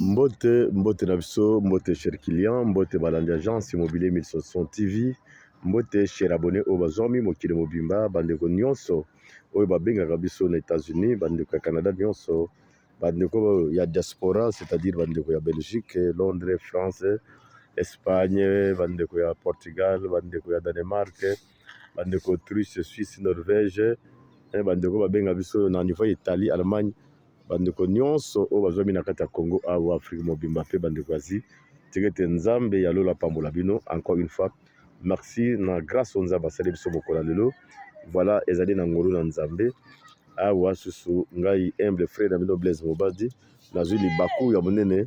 mbote mbote na biso mbote cher client mbote balandi agence immobilier 1160 tv mbote cher abonne oyo bazwami mokili mobimba bandeko nyonso oyo babengaka biso na Etats-Unis bandeko ya Canada nyonso bandeko ya diaspora c'est-à-dire bandeko ya Belgique, Londres, France, Espagne, bandeko ya Portugal, bandeko ya Danemark, bandeko Autriche, Suisse, Norvège, eh, bandeko babenga biso na niveau ya Italie, Allemagne Bandeko nyonso oyo bazwami na kati ya Congo awa, Afrique mobimba pe bandeko ya Asie, tika ete Nzambe ya lola apambola bino encore une fois. Merci na grace oyo Nzambe asali biso mokolo ya lelo. Voilà, ezali na ngolu na Nzambe. Awa susu ngai humble frère na bino Blaise Mobadi, nazwi libaku ya monene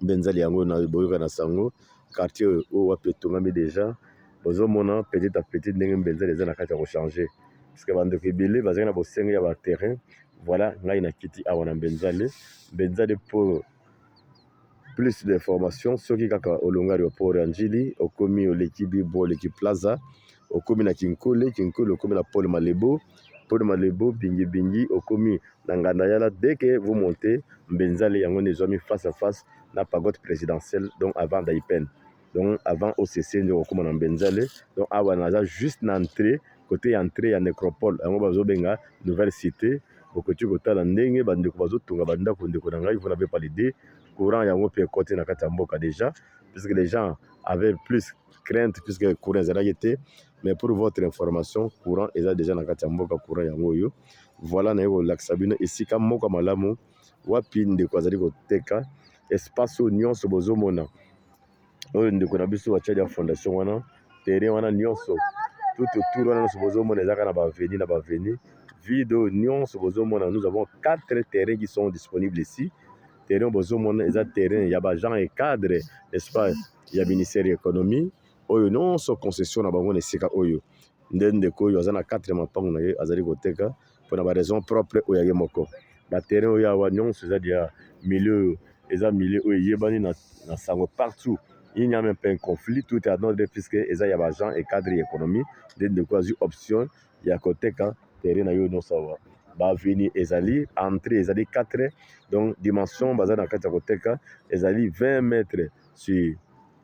benzali yango na boyoka na sango quartier oyo wapi etongami deja bozomona petit a petit ndenge benzali eza na kati ya kochange parceke bandeko ebele bazali na bosengi ya baterrain voila ngai na kiti awa na benzale benzale po plus d'information soki kaka olongari wa port ya njili okomi oleki bibo oleki plaza okomi na kinkole kinkole okomi na pole malebo Pour le Malebo Bingi Bingi okomi na nganda yala dès que vous montez Mbenzale yango nde ezwami face à face na pagote presidentielle donc avant Daipen donc avant OCC nde okokoma na Mbenzale donc awa naza juste na entrée côté ya entrée ya necropole yango bazobenga nouvelle cité bokoki kotala ndenge bandeko bazotonga bandako ndeko na ngai vous n'avez pas l'idée courant yango mpe ekoti na kati ya mboka déjà puisque les gens avaient plus crainte puisque courant ezalaki te mais pour votre information courant eza dejà na kati ya mboka courant yango oyo voilà naye kolakisa bino esika moko malamu wapi ndeko azali koteka espace oyo nyonso bozomona oyo ndeko na biso batiali ya fondation wana terrain wana nyonso tout autour wana nyonso bozomona ezaka na baveni na baveni vide oyo nyonso bozomona nous avons quatre terrain qui sont disponibles ici terrain bozomona eza terrain ya bagent et cadre n'est-ce pas ya ministère ya économie Oyo nionso concession na bango na esika oyo nde ndeko oyo aza na kati na mapangu na ye azali koteka mpo na ba raison propre oyo ya ye moko. Ba terrain oyo awa nionso eza dejà milieu oyo eza milieu oyo eyebani na, na sango partout il n'y a meme pas un conflit tout est en ordre puisque eza ya ba agents et cadres ya economie nde ndeko azwi option ya koteka terrain na ye oyo nionso awa. Ba avenues ezali, entree ezali 4 donc dimension baza na kati ya koteka ezali 20 mètres sur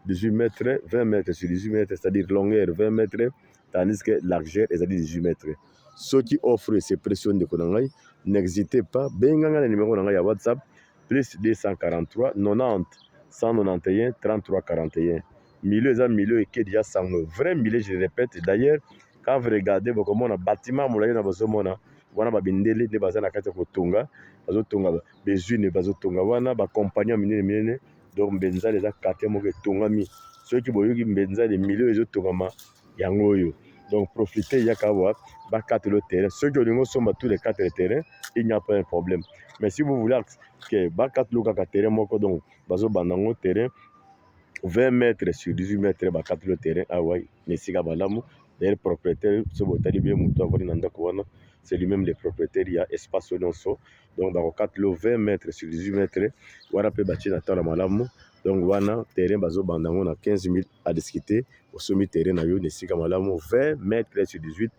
18 mètres 20 mètres sur 18 mètres c'est à dire longueur 20 mètres tandis que largeur ezali 18 mètres soki offre se pression ndeko na ngai n'exitez pas benga ngai na numéro na ngai ya whatsapp plus 243 90 191 33 41 milieu eza milieu ekedi ya sango vrai milieu je répète d'ailleurs quand vous regardez bokomona bâtiment molai na bozomona wana babindele nde baza na kati ya kotonga bazotonga bezwine bazotonga wana bacompagnie ya minene minene Donc Mbenzali eza quartier moko etongami. Soki boyoki Mbenzali milieu ezo tongama yango oyo. Donc profiter yaka awa ba carte le terrain. Soki olingi osomba tous les quatre terrains, il n'y a pas un problème. Mais si vous voulez que ba carte le kaka terrain moko donc bazo banda ngo terrain 20 mètres sur 18 mètres ba carte le terrain awa na esika balamu. D'ailleurs propriétaire soki botali bien moto avandi na ndako wana c'est lui-même le propriétaire ya espace oyo nyonso. donc bakokatela yo 20 mètre sur 18 mètre wana mpe batie na tala malamu donc wana terrain bazobanda yango na 15 000 à discuter osombi terrain na yo na esika malamu 20 mètre sur 18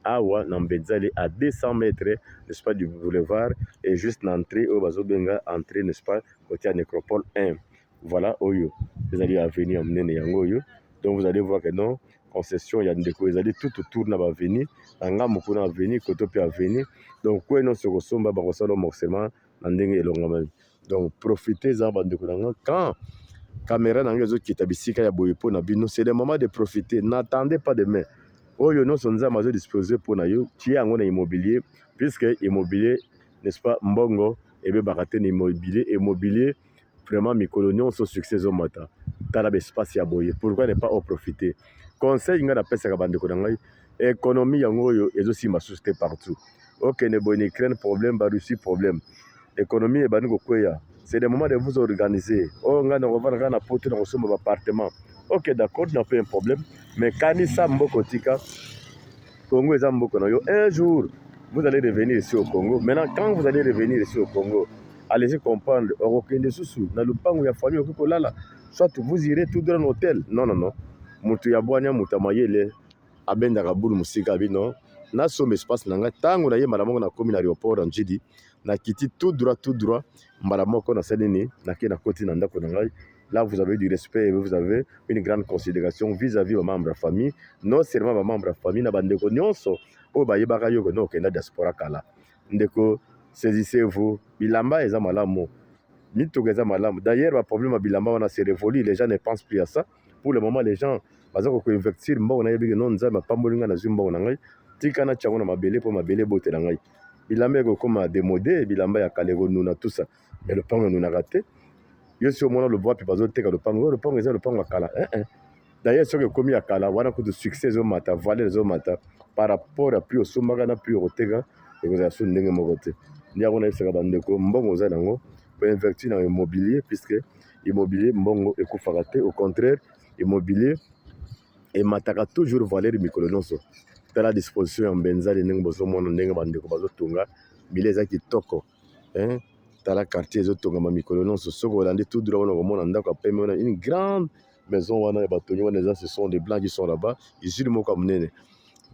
awa na mbenzali à 200 mètre n'est-ce pas du boulevard et juste na entrée oyo bazobenga entrée n'est-ce pas kotia nécropole 1 Voilà oyo ezali avenue ya monene yango oyo donc vous allez voir que non concession ya ndeko ezali tout autour na ba avenue na ngambo kuna avenue koto mpe avenue donc kue nyonso okosomba bakosala morcellement na ndenge elongamami donc profitez eza bandeko na nga quand kamera na yango ezokita bisika ya boye mpo na bino c'est le moment de profiter n'attendez pas demain oyo nyonso nzambe azodispose mpo na yo tie yango na immobilier puisque immobilier n'est-ce pas mbongo ebebaka te na immobilier immobilier Vraiment mikolo nionso succès ezo mata tala ba espace ya boye pourquoi ne pas en profiter conseil nga na pesaka ba ndeko na ngai economie yango oyo ezo simba susu te partout okende boye na Ukraine problème ba Russie problème economie ebandi ko kweya c'est le moment de vous organiser oh nga na kovanda kaka na poto na kosomba ba appartement ok d'accord na pe un problème mais kanisa mboko tika Congo eza mboka na yo un jour vous allez revenir ici au Congo maintenant quand vous allez revenir ici au Congo allez-y comprendre okokende susu na lupango ya famille okoki kolala soit vous irez tout droit na hôtel non non non moto ya bwania moto ya mayele abendaka bulu mosika abi non nasomba espace na ngai ntango nayemala moko nakomi na aéroport ya njidi nakiti tout droit tout droit mbala moko na sali nini na ke na koti na ndako na ngai là vous avez du respect et vous avez une grande considération vis-à-vis ba membres ya famille non seulement ba membres ya famille na bandeko nyonso oyo bayebaka yo kende okenda diaspora kala ndeko saisissez-vous bilamba eza malamu mituka eza malamu d'ailleurs ba problème ya bilamba wana se révolue les gens ne pensent plus à ça pour le moment les gens baza ko investir mbongo na yebi que non nzambe apamboli ngai nazwi mbongo na ngai tika na tiango na mabele mpo mabele ebotela ngai bilamba ekokoma demode bilamba ya kala ekonuna tusa me lopango enunaka te yo si omona lobo wapi bazoteka lopango oyo lopango eza lopango ya kala eh, eh. d'ailleurs soki ekomi ya kala wana kutu succès ezomata valeur ezomata par rapport ya prix osombaka na prix okoteka ekozala su ndenge moko te nde yango nayebisaka bandeko mbongo oza nango po investir na immobilier puisque immobilier mbongo ekufaka te au contraire immobilier emataka toujours valeur mikolo nyonso tala disposition ya mbenzali ndenge bozomona ndenge bandeko bazotonga mbila eza kitoko hein? tala quartier ezotongama mikolo nyonso soki olandi tout droit wana okomona ndako ya pembe wana une grande maison wana ya batongi wana eza ce sont des blancs qui sont là-bas usine moko ya monene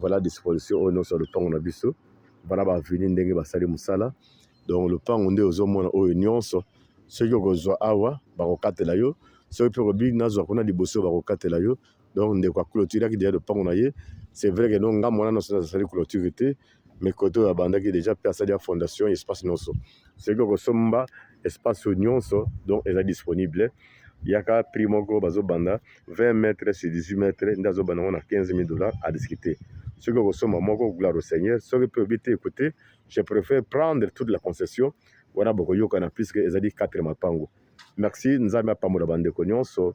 voilà disposition oyo nyonso ya lopango na biso bana ba avenue ndenge basali mosala Donc lopango nde ozo mona oyo nionso soki okozwa awa bako katela yo soki pe okobi nazwa kuna liboso bako katela yo donc ndeko a cloturaki deja lopango na ye c'est vrai que non nga mwana nionso na sali cloture te mais kote oyo abandaki deja pe asali ya fondation espace nionso soki okosomba espace oyo nionso donc eza disponible yaka prix moko bazo banda 20 mètres sur 18 mètres nde azo banda ngo na 15000 dollars à discuter soki okosomba moko gloire au seigneur soki pe obi te écoutez Je préfère prendre toute la concession wana bokoyokana puisque ezali 4 mapango. Merci Nzambe apambola bandeko nyonso.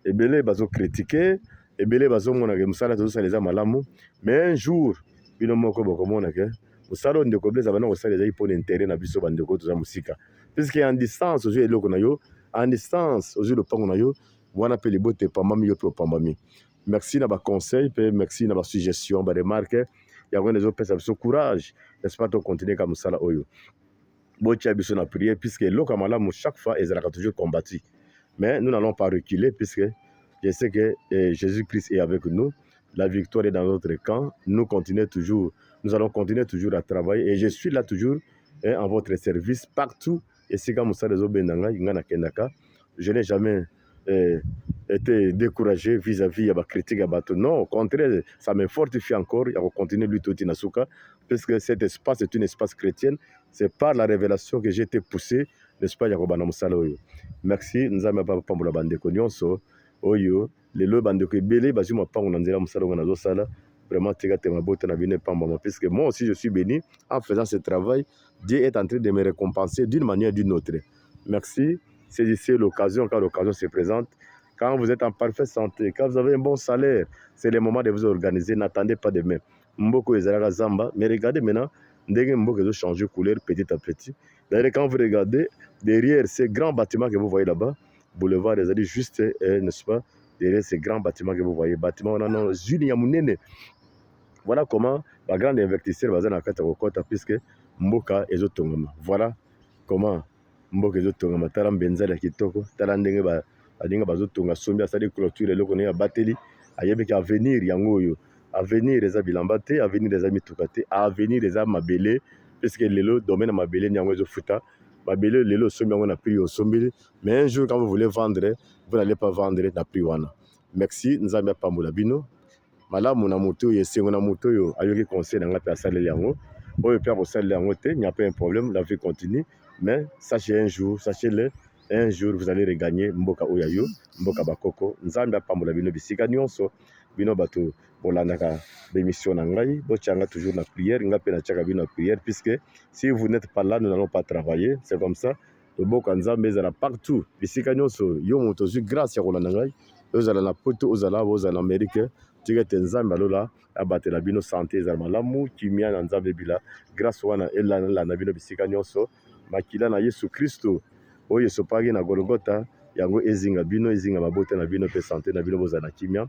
Ebele bazo critiquer, ebele bazo mona ke musala tozo sala eza malamu, mais un jour bino moko bokomona ke musala oyo ndeko Blaise abanda kosala ezali mpo na intérêt na biso bandeko toza mosika puisque en distance ozwi eloko na yo en distance ozwi lopango na yo wana mpe libota epambami yo mpe opambami Merci na ba conseils pe merci na ba suggestions, ba remarques. Yango nde ezopesa biso courage, n'est-ce pas, to continuer ka mosala oyo. Botia biso na prière puisque eloko ya malamu chaque fois ezalaka toujours combattu. Mais nous n'allons pas reculer puisque je sais que eh, Jésus-Christ est avec nous. La victoire est dans notre camp. Nous continuons toujours, nous allons continuer toujours à travailler et je suis là toujours eh, en votre service partout esika mosala ezobenda ngai ngai nakendaka je n'ai jamais eh, été découragé vis-à-vis ya bacritique ya bato non au contraire ça me fortifie encore ya kocontinue lutte oti na suka puisque cet espace est une espace chrétienne c'est par la révélation que j'ai été poussé n'est-ce pas ya kobanda mosala oyo merci nzambe apambola bandeko nyonso oyo Lelo ba ndeko ebele bazui mapangu na nzela musala oyo nazo sala vraiment tika te mabota na bino epambama puisque moi aussi je suis béni en faisant ce travail Dieu est en train de me récompenser d'une manière d'une autre merci saisissez l'occasion quand l'occasion se présente quand vous êtes en parfaite santé quand vous avez un bon salaire c'est le moment de vous organiser n'attendez pas demain mboko ezalaka zamba mais regardez maintenant ndenge mboko ezo changer couleur petit à petit d'ailleurs quand vous regardez derrière ces grands bâtiments que vous voyez là-bas boulevard ezali juste eh, n'est-ce pas derrière ces grands bâtiments que vous voyez bâtiment wana non usine ya munene voilà comment ba grande investisseur baza na kati ya kokota puisque mboka ezotongama voilà comment mboka ezotongama tala mbenza ya kitoko tala ndenge ba baninga bazotonga sombi asali clôture eloko naye abateli ayebiki avenir yango oyo avenir eza bilamba te avenir eza mituka te avenir eza mabele puisque lelo domaine ya mabele nde yango ezofuta mabele oyo lelo osombi yango na prix oyo osombeli mais un jour quand vous voulez vendre vous n'allez pas vendre na prix wana merci nzambe apambola bino malamu na moto oyo esengo na moto oyo ayoki conseil na ngai mpe asaleli yango oyo mpe akosalela yango te n'y a pas un problème la vie continue mais sachez un jour sachez le un jour vous allez regagner mboka oyo ya yo mboka bakoko nzambe apambola bino bisika nyonso bino bato bolandaka bemission na ngai botia nga toujours na prière nga mpe natiaka bino na prière puisque si vous n'êtes pas là nous n'allons pas travailler c'est comme ça loboko ya nzambe ezala partout bisika nyonso yo moto ozwi grâce ya kolanda ngai ozala na poto ozala awa ozala na amerike tika ete nzambe alola abatela bino sante ezala malamu kimia na nzambe ebila grâce wana elanalanda bino bisika nyonso makila na yesu kristo oyo esopaki na golgota yango ezinga bino ezinga mabota na bino mpe sante na bino bozala na kimia